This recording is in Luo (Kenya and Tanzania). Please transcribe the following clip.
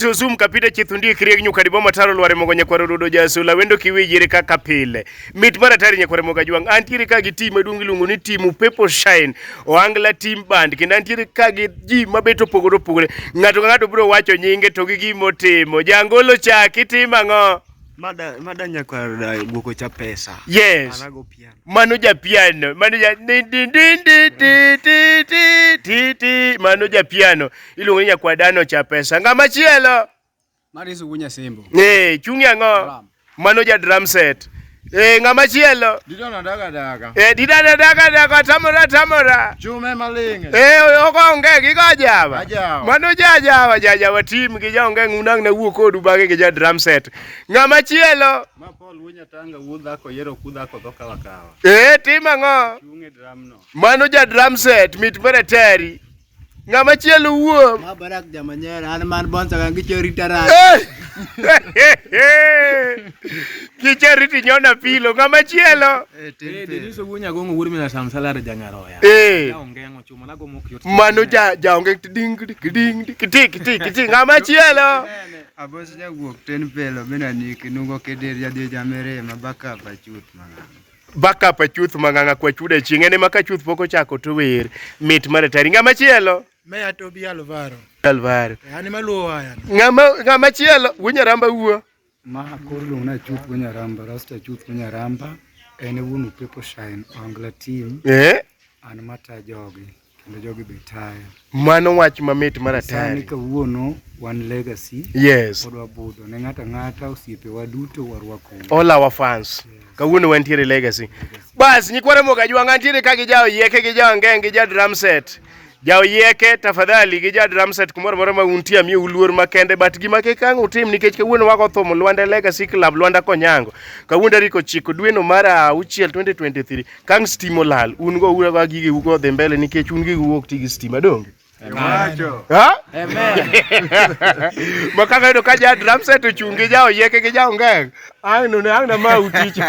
to zoom kapita chithundi krieg nyuka dibo mataro lware mogo nyakwaro rudo jasula wendo kiwijire kaka pile mit mar atari nyakwaro moga jwang antiere ka gi team maduong iluongo ni team upepo shine oangla team band kendo antiere ka gi ji mabet opogore opogore ng'ato ka ng'ato biro wacho nyinge to gi gima otimo jangolo chak itimo ang'o Mada, mada nyakwar uh, guoko cha pesa. Yes. Anago pi. Mano ja piano, mano ja din din din din ti ti ti ti ti, mano ja piano. Iluongo ni nyakwadano cha pesa. Ng'ama chielo? Mari sugu nyasembo. Eh, chungi ang'o? Drum. Mano ja drum set. Eh, ng'ama chielo? Didona daga daga. Eh, didada daga daga tamora tamora. Chume maling'e. Eh, okonge gi go jawa. Ajawa. Mano ja jawa, ja jawa team gi jaonge ng'unang' na wuo kodu bang'e gi ja drum set. Ng'ama chielo? Ee, tim ang'o? Mano ja drum set mit mara tari. Ng'ama chielo wuo. Ma barak jamanyera an man bonsa kan gicho ritara. Kicho riti nyona pilo ng'ama chielo. Eh, eh deniso wuonya gongo wuor mina sam salar janyaroya. Eh. Ongengo chuma na gomo kiyot. Mano ja ja onge ding ding ding kiti kiti kiti ng'ama chielo. Abos jawuok ten pelo bena niki nugo kedir jadhi jamere ma baka pa chuth mang'ang. Baka pa chuth mang'ang kwa chude chieng' ene ma ka chuth poko chako to wer mit mare tari nga machielo. Me atobi alvaro. Alvaro. Eh, Ani maluo waya. Nga ma nga machielo wunya ramba wuo. Ma akor lung na chuth wunya ramba rasta chuth wunya ramba ene wunu pepo shine angla team. Eh. An mata jogi. kendo jogi be tayo. Mano wach mamit mar atari. Sani kawuono wan legacy. Yes. Pod wabudho ne ng'ata ng'ata osiepewa duto warwako. All our fans. Yeah. Kawuono wantiere legacy. Bas nyikwara moga jwanga ntiere ka gi jawo yeke gi jawo ngeng gi ja drum set. Jawo yeke tafadhali gi ja drum set kumoro moro ma untie amie uluor makende but gima kik ang utim nikech kawuono wako thum Lwanda Legacy Club Lwanda Konyango. Kawuono tarik ochiko dweno mar auchiel 2023. kang stima olal un go ura ga gige ugo dhi mbele nikech un gige uok tigi stima donge makaka yudo ka ja drum set ochung' gi ja oyieke gi ja ongeng ang' none ang' na ma uticha